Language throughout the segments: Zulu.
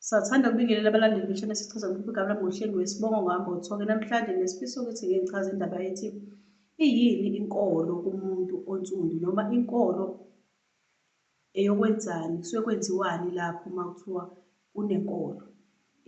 Sathanda ukubingelela abalandeli beshana sichaza uMphuphu Gabula ngohleli wesibongo ngohambo othoke namhlanje nesifiso ukuthi ngeke ngichaze indaba ethi iyini inkolo kumuntu onsundu noma inkolo eyokwenzani kusuke kwenziwani lapho uma kuthiwa kunenkolo.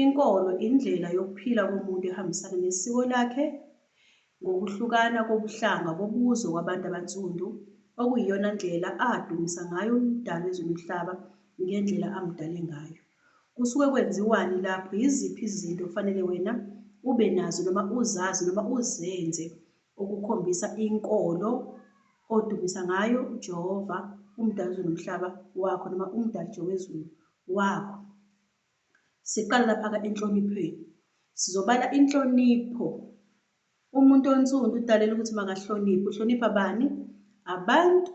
Inkolo indlela yokuphila komuntu ehambisana nesiko lakhe, ngokuhlukana kobuhlanga kobuzwe kwabantu abansundu, okuyiyona ndlela adumisa ngayo uMdali wezwe nomhlaba ngendlela amdale ngayo. Kusuke kwenziwani lapho, yiziphi izinto okufanele wena ube nazo noma uzazi noma uzenze okukhombisa inkolo odumisa ngayo uJehova, uMdali wezwe nomhlaba, wakho noma uMdali Jehova wezulu, wakho? Siqala lapha-ke enhloniphweni. Sizobala inhlonipho. Umuntu onsundu udalela ukuthi makahloniphe. Uhlonipha bani? Abantu.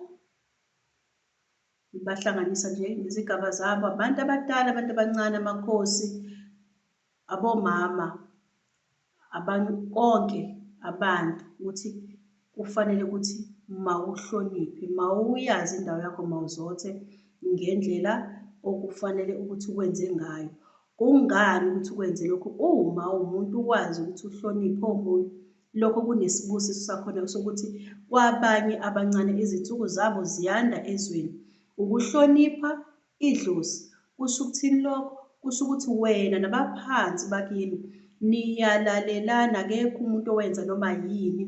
Ubahlanganisa nje ngezigaba zabo. Abantu abadala, abantu abancane, amakhosi, abomama. Abantu konke abantu ukuthi kufanele ukuthi mawuhloniphe, mawuyazi indawo yakho mawuzothe ngendlela okufanele ukuthi ukwenze ngayo. Kungani ukuthi ukwenze lokhu uma uwumuntu ukwazi ukuthi uhloniphe omunye? Lokho kunesibusiso sakhona sokuthi kwabanye abancane izinsuku zabo ziyanda ezweni. Ukuhlonipha Idlozi, Kusho ukuthini lokho? Kusho ukuthi wena nabaphansi bakini niyalalelana akekho umuntu owenza noma yini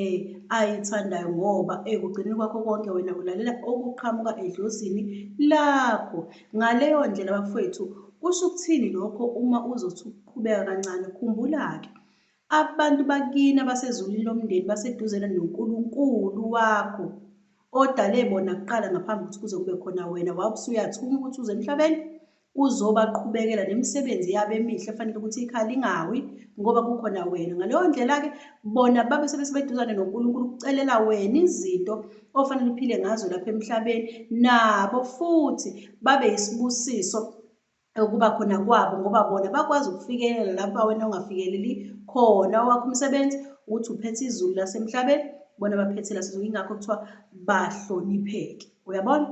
um ayithandayo ngoba ekugcineni kwakho konke wena ulalela okuqhamuka edlozini lakho. Ngaleyo ndlela bafwethu kusho ukuthini lokho uma uzothi ukuqhubeka kancane? Khumbula-ke Abantu bakini abasezulwini lomndeni baseduzane noNkulunkulu wakho odale bona kuqala ngaphambi ukuthi kuze kube khona wena wawusuyathuma ukuthi uze emhlabeni uzobaqhubekela nemisebenzi yabo emihle efanele ukuthi ikhala ingawi ngoba kukhona wena ngaleyo ndlela-ke bona babe sebesebeduzane nonkulunkulu ukucelela wena izinto ofanele uphile ngazo lapha emhlabeni nabo futhi babe yisibusiso ukuba khona kwabo ngoba bona bakwazi ukufikelela lapha wena ongafikeleli khona owakho umsebenzi ukuthi uphethe izulu lasemhlabeni bona baphethe lasezulu ingakho kuthiwa bahlonipheke uyabona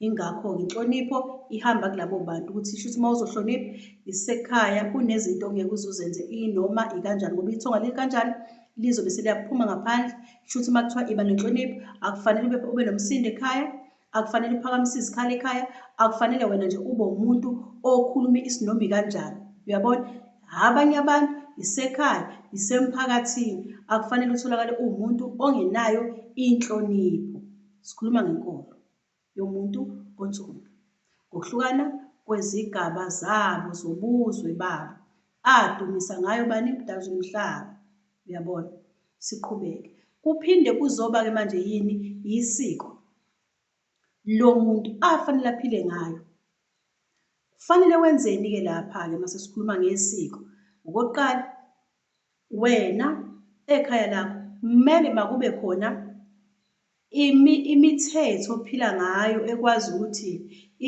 ingakho-ke inhlonipho ihamba kulabo bantu ukuthi isho ukuthi uma uzohlonipha isekhaya kunezinto ongeke uzuzenze inoma ikanjani ngoba ithonga likanjani lizobe seliyaphuma ngaphandle isho ukuthi uma kuthiwa iba nenhlonipho akufanele ube nomsindo ekhaya akufanele uphakamise izikhali ekhaya akufanele wena nje ube umuntu okhuluma isinomi kanjani uyabona abanye abantu isekhaya isemphakathini akufanele utholakale uwumuntu ongenayo inhlonipho sikhuluma ngenkolo yomuntu onsundu ngokuhlukana kwezigaba zabo zobuzwe babo adumisa ngayo bani mdazumhlaba Uyabona? Siqhubeke. Kuphinde kuzoba-ke manje yini? Yisiko. Lo muntu afanele aphile ngayo. Kufanele wenzeni-ke lapha-ke uma sesikhuluma ngesiko? Okokuqala, wena ekhaya lakho kumele makube khona Imi, imithetho ophila ngayo ekwazi ukuthi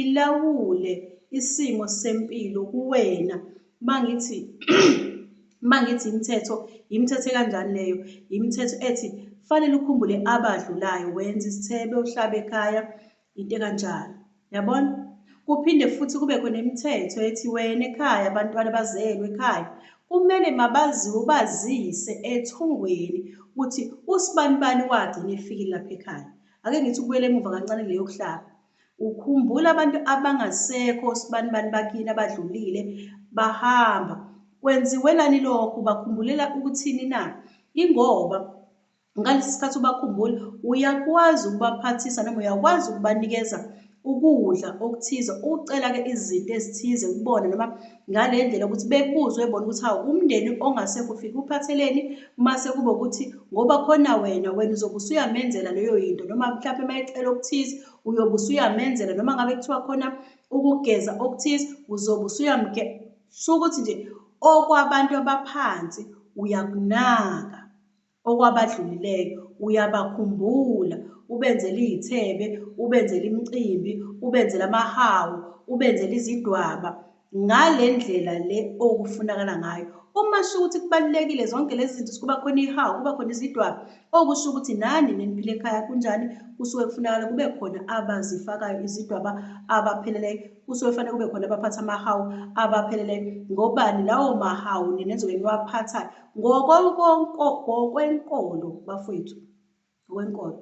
ilawule isimo sempilo kuwena. Uma ngithi uma ngithi imithetho, yimithetho ekanjani leyo? Yimithetho ethi kufanele ukhumbule abadlulayo, wenze isithebe, uhlabe ekhaya, Into ekanjalo. Yabona? Kuphinde futhi kube khona imithetho ethi wena ekhaya abantwana bazelwe ekhaya kumele mabaziwe ubazise ethongweni ukuthi usibanibani wagcina efikile lapha ekhaya. Ake ngithi ukubuyela emuva kancane leyo kuhlaba. Ukhumbula abantu abangasekho osibanibani bakini abadlulile bahamba. Kwenziwelani lokho? Bakhumbulela ukuthini na? Ingoba ngalesi sikhathi ubakhumbula uyakwazi ukubaphathisa noma uyakwazi ukubanikeza ukudla okuthize ucela-ke izinto ezithize kubona noma ngale ndlela ukuthi bekuzwe bona ukuthi hawu umndeni ongasekho ufike uphatheleni mase kube ukuthi ngoba khona wena wena uzobe usuyamenzela leyo yinto noma mhlawumpe uma ecela okuthize uyobe usuyamenzela noma ngabe kuthiwa khona ukugeza okuthize uzobe usuyamge shukuthi nje okwabantu abaphansi uyakunaka okwabadlulileyo, uyabakhumbula, ubenzela izithebe, ubenzela imicimbi, ubenzela amahawu, ubenzela izidwaba, ngale ndlela le okufunakala ngayo. Uma sisho ukuthi kubalulekile zonke lezi zinto, kuba khona ihawu, kuba khona izidwaba, okusho ukuthi nani neniphila ekhaya kunjani, kusuke kufunakala kube khona abazifakayo izidwaba abapheleleyo, kusuke kufanele kube khona abaphatha amahawu abapheleleyo. Ngobani? Lawo mahawu nina enizobe niwaphathayo. ngokwenkolo bafowethu ngokwenkolo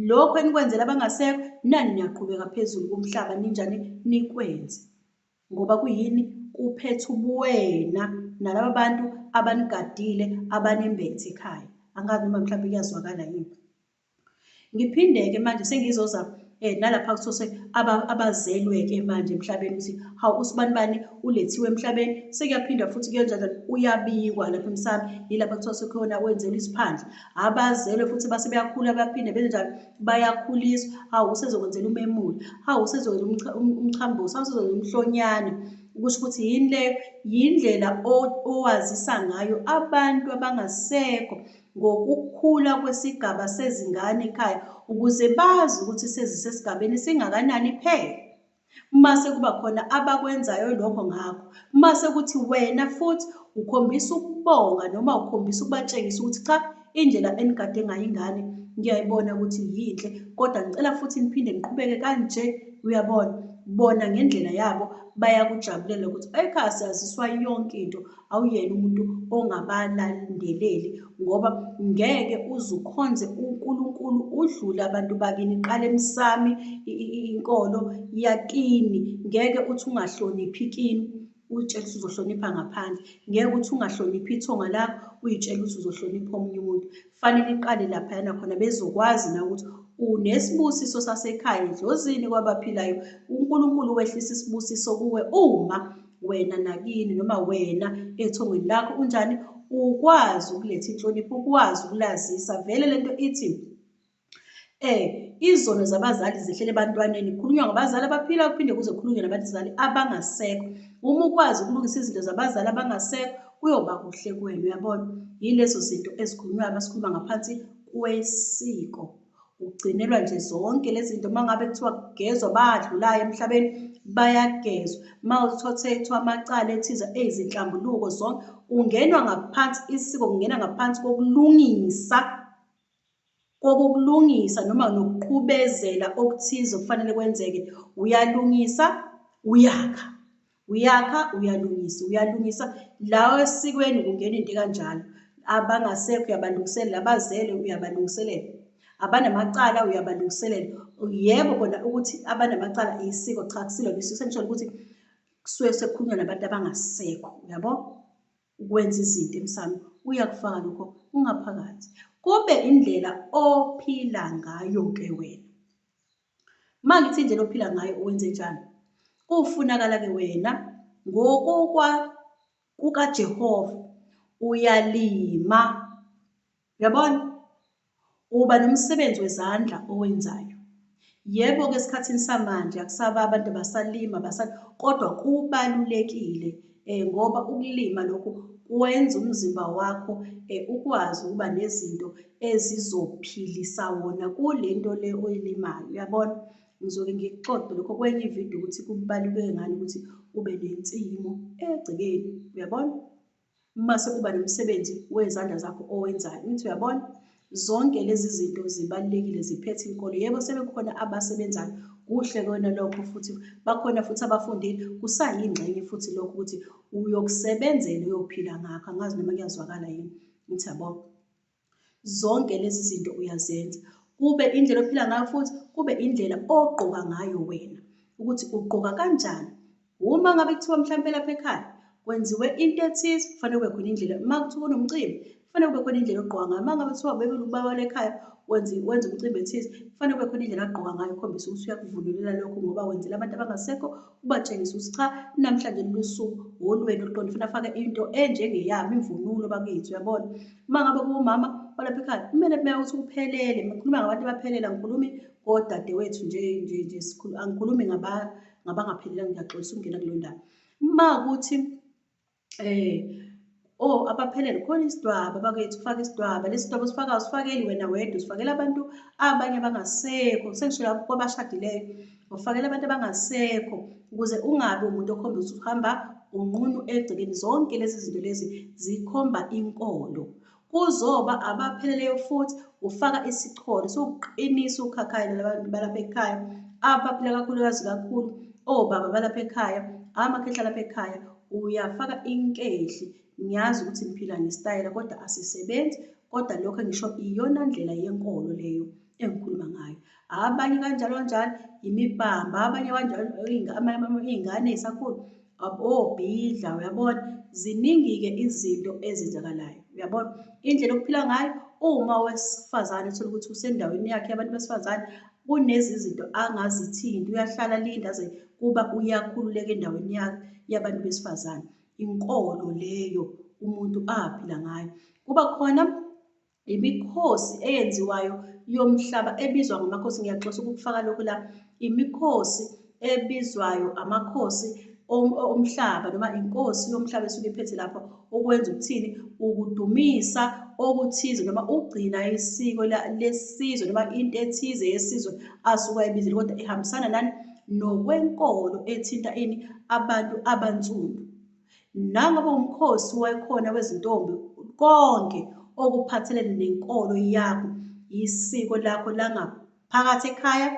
lokho enikwenzela abangasekho nani niyaqhubeka phezulu komhlaba ninjani nikwenze ngoba kuyini kuphetha ubuwena nalaba bantu abanigadile abanembethe ekhaya angazi noma mhlawumbe kuyazwakala yini Ngiphinde-ke manje sengizoza um nalapha kusose abazelwe-ke manje emhlabeni ukuthi hawu usibani bani ulethiwe emhlabeni sekuyaphindwa futhi kuyenjalo uyabikwa lapha emsami yilapha kuthiwa sekhona wenzelwa isiphandla abazelwe futhi base beyakhula baphinde benze njalo bayakhuliswa hawu usezokwenzela umemula hawu usezokwenza um, umchambuso hawu usezokwenza umhlonyana kusho ukuthi yini leyo yindlela owazisa ngayo abantu abangasekho ngokukhula kwesigaba sezingane ekhaya ukuze bazi ukuthi sezisesigabeni esingakanani iphele. Mase kuba khona abakwenzayo lokho ngakho, mase kuthi wena futhi ukhombisa ukubonga noma ukhombisa ukubatshengisa ukuthi cha indlela enigade ngayo ingane ngiyayibona ukuthi yinhle kodwa ngicela futhi niphinde niqhubeke kanje uyabona bona ngendlela yabo bayakujabulela ukuthi ekhaya siyaziswa yonke into. awuyena umuntu ongabalandeleli ngoba ngeke uzukhonze uNkulunkulu udlule abantu bakini qale emsami inkolo yakini ngeke uthi ungahloniphi kini uyitshela ukuthi uzohlonipha ngaphandle ngeke uthi ungahloniphi ithonga lakho uyitshela ukuthi uzohlonipha omunye umuntu Kufanele iqale laphayana khona bezokwazi na ukuthi unesibusiso sasekhaya edlozini kwabaphilayo. UNkulunkulu wehlisa isibusiso kuwe uma wena nakini noma wena ethongweni lakho unjani ukwazi ukuletha inhlonipho ukwazi ukulazisa vele lento ithi Eh, izono zabazali zehlela ebantwaneni. Kukhulunywa ngabazali abaphila kuphinde kuze kukhulunywe nabazali abangasekho. Uma ukwazi ukulungisa izinto zabazali abangasekho kuyoba kuhle kuwena uyabona. Yilezo zinto ezikhulunywayo uma sikhuluma ngaphansi kwesiko. Ugcinelwa nje zonke lezi zinto uma ngabe kuthiwa kugezwa badlulayo emhlabeni bayagezwa. Uma uthothethwa amacala ethize eyizinhlambuluko zonke ungenwa ngaphansi isiko kungena ngaphansi kokulungisa kokukulungisa noma nokuqhubezela okuthize okufanele kwenzeke uyalungisa uyakha uyakha uyalungisa uyalungisa lawo esikweni kungena into kanjalo abangasekho uyabalungiselela abazele uyabalungiselela abanamacala uyabalungiselela yebo kona ukuthi abanamacala isiko cha kusilona isiko sengisholo ukuthi kusuke sekukhulunywa nabantu abangasekho uyabo ukwenza izinto emsamo uyakufaka lokho ungaphakathi kube indlela ophila ngayo ke wena uma ngithi indlela ophila ngayo uwenze njani kufunakala ke wena ngokokwa kukajehova uyalima Yabona? Uba nomsebenzi wezandla owenzayo. Yebo ke esikhathini samanje akusaba abantu basalima basa kodwa kubalulekile eh ngoba ukulima lokhu kwenza umzimba wakho eh ukwazi ukuba nezinto ezizophilisa wona kulento le oyilimayo uyabona ngizoke ngikuxoxe lokho kwenye ividiyo ukuthi kubaluleke ngani ukuthi ube nensimu egcekeni uyabona Mase kuba nomsebenzi wezandla zakho owenzayo. Ngithi uyabona? Zonke lezi zinto zibalulekile ziphethe inkolo. Yebo sebekhona abasebenzayo kuhle kona lokho futhi bakhona futhi abafundile kusayingxenye futhi lokho ukuthi uyokusebenzela uyophila ngakho angazi noma kuyazwakala yini ngithi yabo Zonke lezi zinto uyazenza, kube indlela ophila ngayo futhi kube indlela ogqoka ngayo wena, ukuthi ugqoka kanjani. Uma ngabe kuthiwa mhlawumpe lapha ekhaya kwenziwe into ethize, kufanele kube khona indlela. Uma kuthiwa kunomcimbi, kufanele kube khona indlela ogqoka ngayo. Uma ngabe kuthiwa ubekela ubaba lekhaya wenza wenza umcimbi ethize, kufanele kube khona indlela agqoka ngayo ukhombisa ukuthi uyakuvunulela lokho ngoba wenzela abantu abangasekho. ubatshengisa ukuthi cha namhlanje lusuku wolwena oluqonde ufuna afake into enjengeyami imvunulo bakithi uyabona uma ngabe kuwumama olapha ekhaya kumele kumele ukuthi kuphelele ngikhuluma ngabantu abaphelela ngikhulumi kodadewethu nje nje nje sikhulu angikhulumi ngaba ngabangaphelelanga ngiyaxolisa ukungena kulo ndaba uma ukuthi eh oh abaphelele khona isidwaba bakwethu ufaka isidwaba lesi sidwaba usifaka usifakeli wena wedwa usifakela abantu abanye abangasekho sengisho lapho kwabashadileyo ufakela abantu abangasekho ukuze ungabi umuntu okhomba ukuthi uhamba unqunu egcekeni zonke lezi zinto lezi zikhomba inkolo Kuzoba abapheleleyo futhi ufaka isicholo sokuqinisa ukhakhayi labantu balapha ekhaya abaphila kakhulukazi kakhulu obaba balapha ekhaya amakhehla lapha ekhaya uyafaka inkehli ngiyazi ukuthi ngiphila ngesitayela kodwa asisebenzi kodwa lokho engisho iyona ndlela yenkolo leyo engikhuluma ngayo abanye kanjalo kanjalo imibamba abanye kanjalo iy'ngane ey'sakhulu obhidla uyabona ziningi-ke izinto ezenzakalayo uyabona indlela okuphila ngayo uma owesifazane uthole ukuthi usendaweni yakhe yabantu besifazane kunezi zinto angazithinti uyahlala linda aze kuba uyakhululeka endaweni yakhe yabantu besifazane inkolo leyo umuntu aphila ngayo kuba khona Imikhosi eyenziwayo yomhlaba ebizwa ngamakhosi ngiyaxosa ukufaka lokhu la imikhosi ebizwayo amakhosi omhlaba noma inkosi yomhlaba esuke iphethe lapho ukwenza ukuthini ukudumisa okuthize noma ukugcina isiko lesizwe noma into ethize yesizwe asuke ayibizile kodwa ihambisana nani nokwenkolo ethinta ini abantu abansundu Nangabe umkhosi wakhona wezintombi konke okuphathelene nenkolo yakho yisiko lakho langaphakathi ekhaya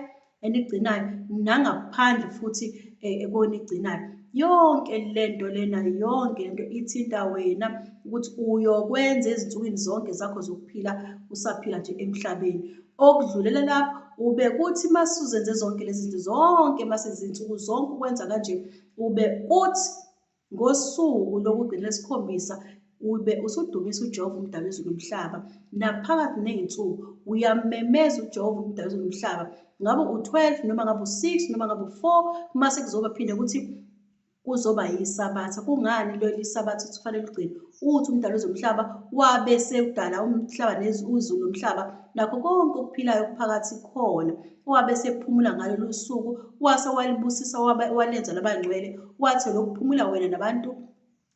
enigcinayo nangaphandle futhi eh, ekonigcinayo yonke lento lena yonke lento ithinta wena ukuthi uyokwenza ezinsukwini zonke zakho zokuphila usaphila nje emhlabeni okudlulela lapho ubekuthi masuzenze zonke lezi zinto zonke masezinsuku zonke ukwenza kanje Ube uthi ngosuku lokugcina lesikhombisa ube usudumisa uJehova umdala izulu nomhlaba naphakathi nezinsuku uyamemeza uJehova umdala izulu nomhlaba ngabe u12 noma ngabe u6 noma ngabe u4 mase kuzoba phinde ukuthi kuzoba yisabatha kungani lo lisabatha kufanele ugcine uthi umdala wezomhlaba wabe sekudala umhlaba nezulu nomhlaba nakho konke okuphilayo okuphakathi khona wabe esephumula ngalolu suku wase walibusisa wabe walenza labangcwele wathi lokuphumula wena nabantu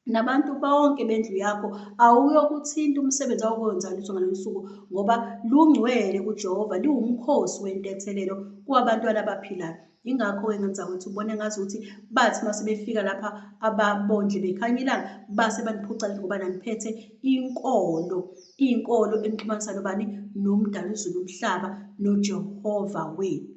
nabantu bonke bendlu yakho awuyokuthinta umsebenzi awukwenza lutho ngalolu suku ngoba lungcwele kujehova liwumkhosi wentethelelo kwabantwana abaphilayo yingakho-ke ngenza ukuthi ubone ngazi ukuthi bathi uma sebefika lapha ababondle bekhanya ilanga base baniphuca ngoba naniphethe inkolo Inkolo imxhumanisa nobani? Nomdali uzulu umhlaba noJehova wethu.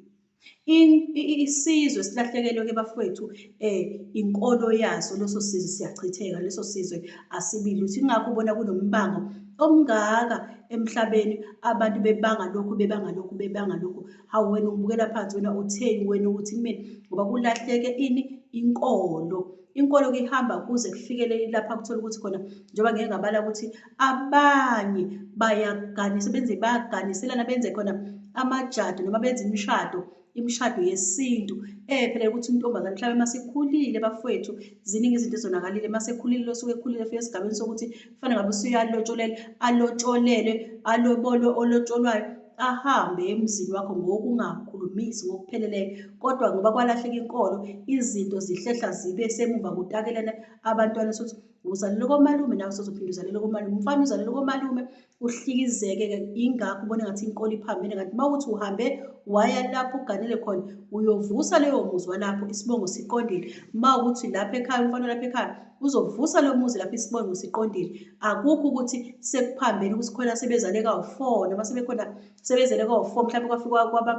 Isizwe silahlekelwe ke bafowethu eh inkolo yaso leso sizwe siyachitheka leso sizwe asibili uthi ingakho ubona kunombango omngaka emhlabeni abantu bebanga lokhu bebanga lokhu bebanga lokhu hawu wena ubukela phansi wena utheni wena ukuthi kumina ngoba kulahleke ini inkolo inkolo-ke ihamba kuze kufikele lapha kuthola ukuthi khona njengoba ngeke ngabala ukuthi abanye bayaganisa benze bayaganiselana benze khona amajado noma benze imishado imishado yesintu ephela ukuthi intombazane mhlawumbe uma sekhulile bafowethu ziningi izinto ezonakalile uma sekhulile losuke ekhulile fika esigabeni sokuthi kufanele ngabe usuyalotsholele alotsholelwe alobolwe olotsholwayo ahambe emzini wakho ngokungakhulumisi ngokupheleleyo kodwa ngoba kwalahleka inkolo izinto zihlehla zibe semuva kutakelana abantwana sokuthi uzalelwe komalume nawe sozophinde uzalelwe komalume umfana uzalelwe komalume uhlikizeke-ke ingakho ubona ngathi inkolo iphambene ngathi uma ukuthi uhambe waya lapho uganele khona uyovusa leyo muzi walapho isibongo siqondile uma ukuthi lapha ekhaya umfana lapha ekhaya uzovusa lo muzi lapho isibongo siqondile akukho ukuthi sekuphambene ukuthi khona sebezale kawu-four noma sebekhona sebezele kawu-four mhlawumbe kwafika kwaba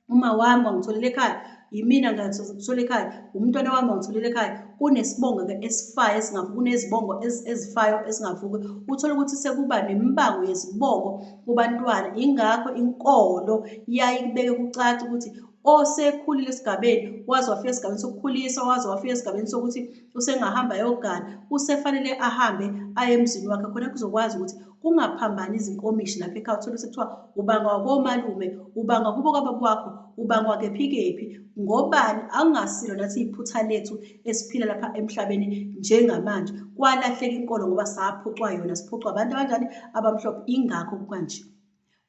uma wami wangitholela ekhaya yimina ngithola ekhaya umntwana wami wangitholela ekhaya kunesibongo-ke esifayo esingavuki kunezibongo ezifayo esingavuki uthole ukuthi sekuba nemibango yezibongo kubantwana ingakho inkolo yaye kubeke kucaca ukuthi osekhulile esigabeni waze wafika esigabeni sokukhulisa waze wafika esigabeni sokuthi usengahamba ayogana usefanele ahambe aye emzini wakhe khona kuzokwazi ukuthi kungaphambani izinkomishi lapha ekhaya uthole sekuthiwa ubangwa komalume ubangwa kubo kwababa wakho ubangwa kephi kephi ngobani akungasilo nathi iphutha lethu esiphila lapha emhlabeni njengamanje kwalahleka inkolo ngoba saphucwa yona siphucwa abantu abanjani abamhlophe ingakho kanje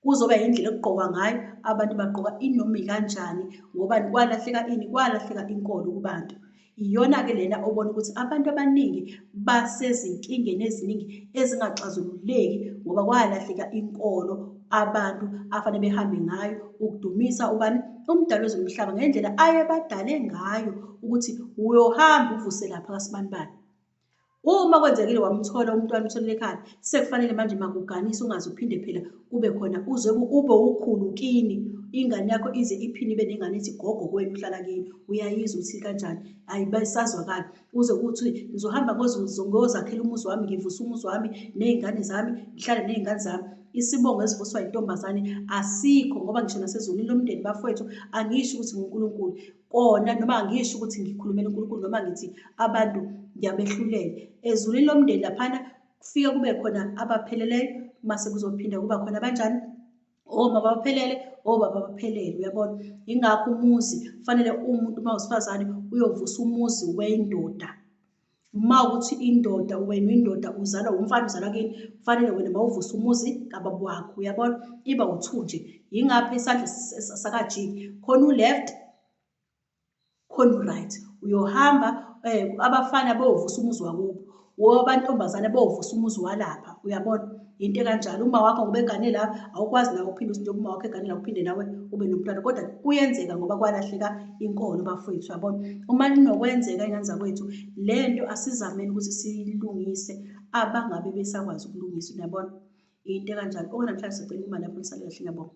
kuzoba yindlela okugqokwa ngayo abantu bagqoka inoma ikanjani ngobani kwalahleka ini kwalahleka inkolo kubantu iyona-ke lena obona ukuthi abantu abaningi basezinkingeni eziningi ezingaxazululeki ngoba kwalahleka inkolo abantu afanele behambe ngayo ukudumisa ubani umdali wezomhlaba ngendlela ayebadale ngayo ukuthi uyohamba uvuse lapha kasibanibani Uma kwenzekile wamthola umntwana utholile ekhaya, sekufanele manje makuganisa ungaze uphinde phela kube khona uze ube ukhulu kini ingane yakho ize iphinde ibe nengane ethi gogo kwenu uhlala kini uyayizwa ukuthi kanjani hayi basazwakala uze kuthi ngizohamba ngozakhela umuzi wami ngivusa umuzi wami ney'ngane zami ngihlale ney'ngane zami isibongo esivuswa yintombazane asikho ngoba ngisho nasezulwini lomndeni bafowethu angisho ukuthi ngunkulunkulu kona noma angisho ukuthi ngikhulumela uNkulunkulu noma ngithi abantu ngiyabehlulela ezulwini lomndeni laphana kufike kube khona abapheleleyo mase kuzophinda kuba khona abanjani omama baphelele obaba baphelele uyabona yingakho umuzi kufanele umuntu uma wesifazane uyovusa umuzi wendoda uma ukuthi indoda wena uyindoda uzalwa wumfana uzalwa kini kufanele wena mawuvusa umuzi kababa wakho uyabona iba uthu nje yingaphi isandla sakajiki khona u-left khona u-right uyohamba um abafana bovusa umuzi wakubo wobantombazane bovusa umuzi walapha uyabona yinto ekanjalo uma wakho ngoba egane la awukwazi nawe uphinde usinto uma wakho egane la uphinde nawe ube nomntwana kodwa kuyenzeka ngoba kwalahleka inkolo bafowethu yabona uma linokwenzeka ingane zakwethu le nto asizameni ukuthi siyilungise abangabe besakwazi ukulungisa uyabona into ekanjalo okunamhlanje sicela imali lapho nisale kahle ngiyabonga